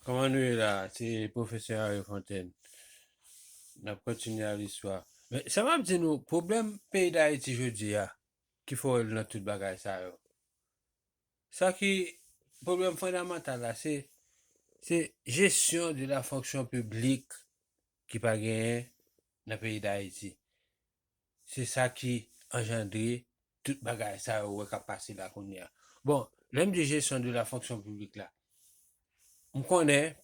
Kòman nou ye la se profesè Henri Fontaine nap kontinye al istwa men sa map di nou pwoblèm peyi dayiti jodia ki forel nan tout bagay sa yo sa ki pwoblèm fondamantal la se se jesyon de la fonksyon piblik ki pa genyen nan peyi dayiti se sa ki anjandre tout bagay sa yo wè kap pase la kounye a. Bon, lè m di jesyon de la fonksyon piblik la, m konnen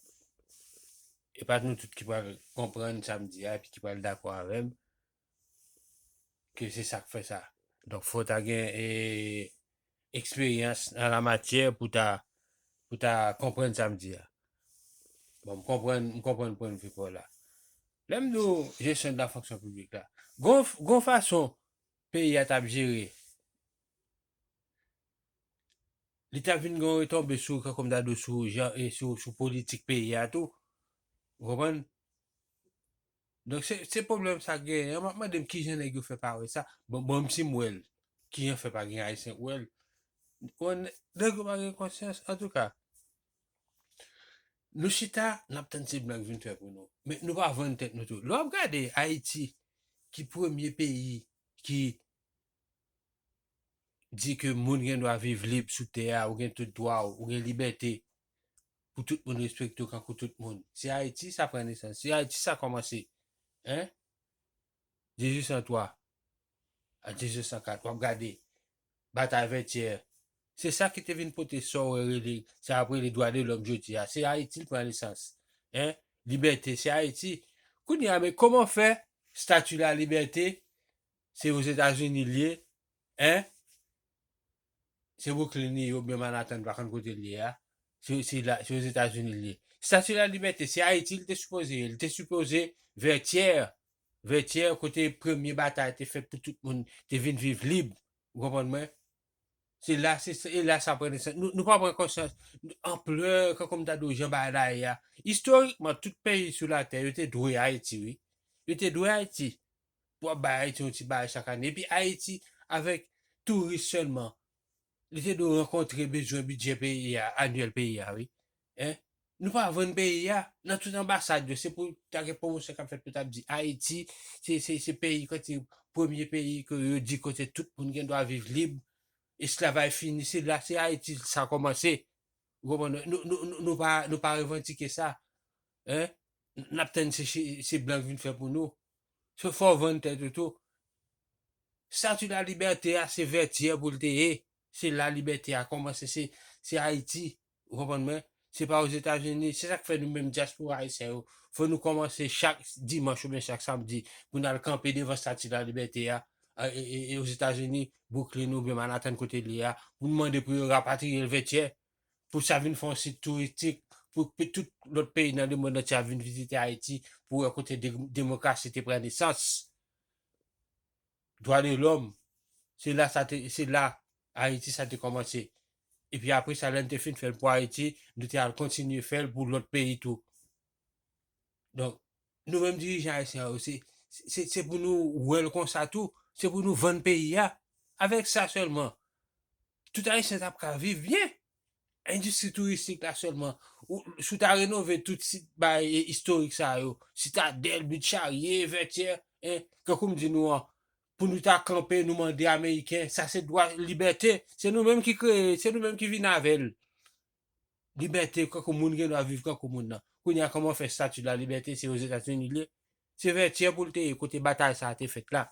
e pa nou tout ki pral konprann sa m di a epi ki pral dakò avè m ke se sa k fè sa. Donk fò ta gen eksperyans an la matyè pou ta pou ta konprann sa m di a. Bon, m konprann, m konprann pwennvi pa w la. Lè m di w jesyon de la fonksyon piblik la, gon gon fason peyi a t ap jere, li ta vin gen yon retonbe sou kòkòmdadou sou jan e sou sou politik peyi a tou, ou konprann? Donk se se pwoblèm sa genyen an map mandem kijan nèg yo fè pa wè sa bon bon si m wèl kijan fè pa gen ayisyen k wèl bon nèg yo pa gen konsyans antouka nou chita nap tann se blan k vin fè pou nou men nou pa vann tèt nou tou lè wap gade ayiti ki premye peyi ki di ke moun gen dwa viv lib sou tè a, ou gen tout dwa w, ou gen libète pou tout moun respekte w kankou tout moun. Se Ayiti sa pran nesans, se Ayiti sa kòmanse. Hein? 1803 a 1804, w ap gade, batay Vètyè, se sa ki te vin pote sa w rele, sa y ap rele dwa de lòm jodi a. Se Ayiti l pran nesans. Hein? Libète, se Ayiti. Kounye a men kòman fè stati la libète Se ozetazini liye hein se Brooklyn li ye oubyen Manhattan m pa konn kote li ye a se ozetazini li ye statue la libète se ayiti li te sipoze ye li te sipoze vètyèr vètyèr kote premye batay te fèt pou tout moun te vin viv lib ou konprann mwen se la se e la sa pran nesans nou pa pran konsyans anplè kankou m ta di w jan bagay la ye a istorikman tout peyi sou latè yo te dwe ayiti wi yo te dwe ayiti pou ap bay Ayiti yon ti bagay chak ane. Epi Ayiti avèk touris sèlman, li te dwe rankontre bezwen bidjè peyi a, anyèl peyi a wi. Hein? Nou pa vann peyi a, nan tout anbasad yo, se pou ta gen pwomosyon k ap fèt pou t ap di Ayiti se se peyi kote premye peyi ke yo di kote tout moun gen dwa viv lib, esklavaj fini, se la se Ayiti sa kòmanse. Ou konprann non? Nou nou nou pa nou pa revandike sa hein nap tann se se blan k vin fè pou nou so fè w vann tèt ou tou Statue la libète a se vètyè pou l te ye se la libète a kòmanse se se ayiti ou konprann mwen se pa ozetazini se sak fè nou menm dyaspora ayisyen yo fò nou kòmanse chak dimanch oubyen chak samdi pou n al kanpe devan Statue la libète a e Ozetazini, Bwouklin oubyen Manatan kote l ye a, pou nou mande pou yo rapatriye l Vètyè, pou sa vin fè yon sit touristik, pou tout lòt peyi nan lemonn antye ap vin vizite Ayiti pou wè kote demokrasi te pran nesans, dwa de lòm, se la sa te, se la Ayiti sa te kòmanse. Epi apre sa lè n te fin fè l pou Ayiti, nou te al kontinye fè l pou lòt peyi tou. Donk, nou menm dirijan ayisyen yo se se pou nou wè l konsa tou, se pou nou vann peyi a. Avèk sa sèlman, tout ayisyen t ap ka viv byen. Endistri touristik la sèlman, si w ta renove tout sit bagay istorik sa yo, Sitadèl, But Charye, Vètyè, tankou m di nou an, pou nou ta kanpe nou mande ameriken, sa se dwa, libète, se nou menm ki kreye l, se nou menm ki vin avè l. Libète kankou moun gen dwa viv kankou moun nan. Kounye a kòman w fè Statut de la Liberté se Ozetazini li ye? Se Vètyè pou l te ye kote batay sa a te fèt la.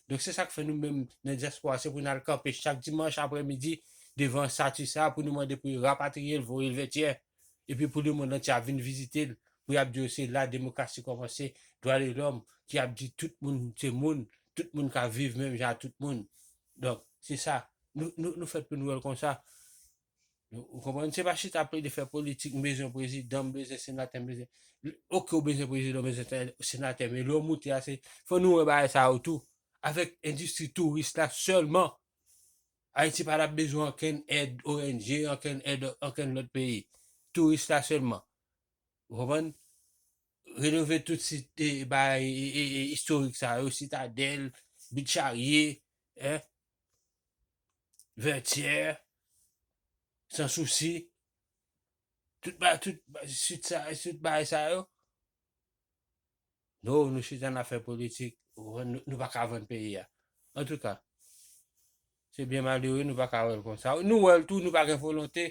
Donk se sa k fè nou menm nan dyaspora se pou n al kanpe chak dimanch aprè midi devan Statut sa a pou nou mande pou yo rapatriye l voye l Vètyè. Epi pou lemonn antye ap vin vizite l pou y ap di yo se la demokrasi kòmanse, dwa de lòm ki ap di tout moun se moun, tout moun ka viv menm jan ak tout moun. Donk se sa nou fèt pou nou wè l konsa. Ou konprann? Se pa chita plede fè politik, m bezwen prezidan, m bezwen senatè, m bezwen. Ok, ou bezwen prezidan, ou bezwen senatè, men lè ou moute a, se fò nou wè bagay sa yo tou. Avèk endistri touris la sèlman, Ayiti pa t ap bezwen ankenn èd ONG, ankenn èd ankenn lòt peyi. Touris la sèlman. Ou konprann? Renove tout sit e bay istorik sa yo, sitadèl, bit charye, hein, vètyè, san sousi, tout ba tout sit sa yo, tout bay sa yo. No, nou chita nap fè politik, ou konprann, nou pa ka vann peyi a. An tou ka, se byen malere nou pa ka wèl konsa. Nou wèl tou, nou pa gen volonte,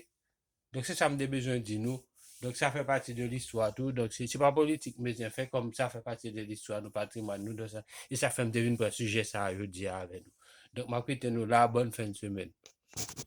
Donk se sa m te bezwen di nou. Donk sa fè pati de listwa tou. Donk se se pa politik m bezwen fè kòm sa fè pati de listwa nou, patrimwàn nou donk sa e sa fè m te vin pran sijè sa a jodi a avè nou. Donk m ap kite nou la a bòn fen semèn.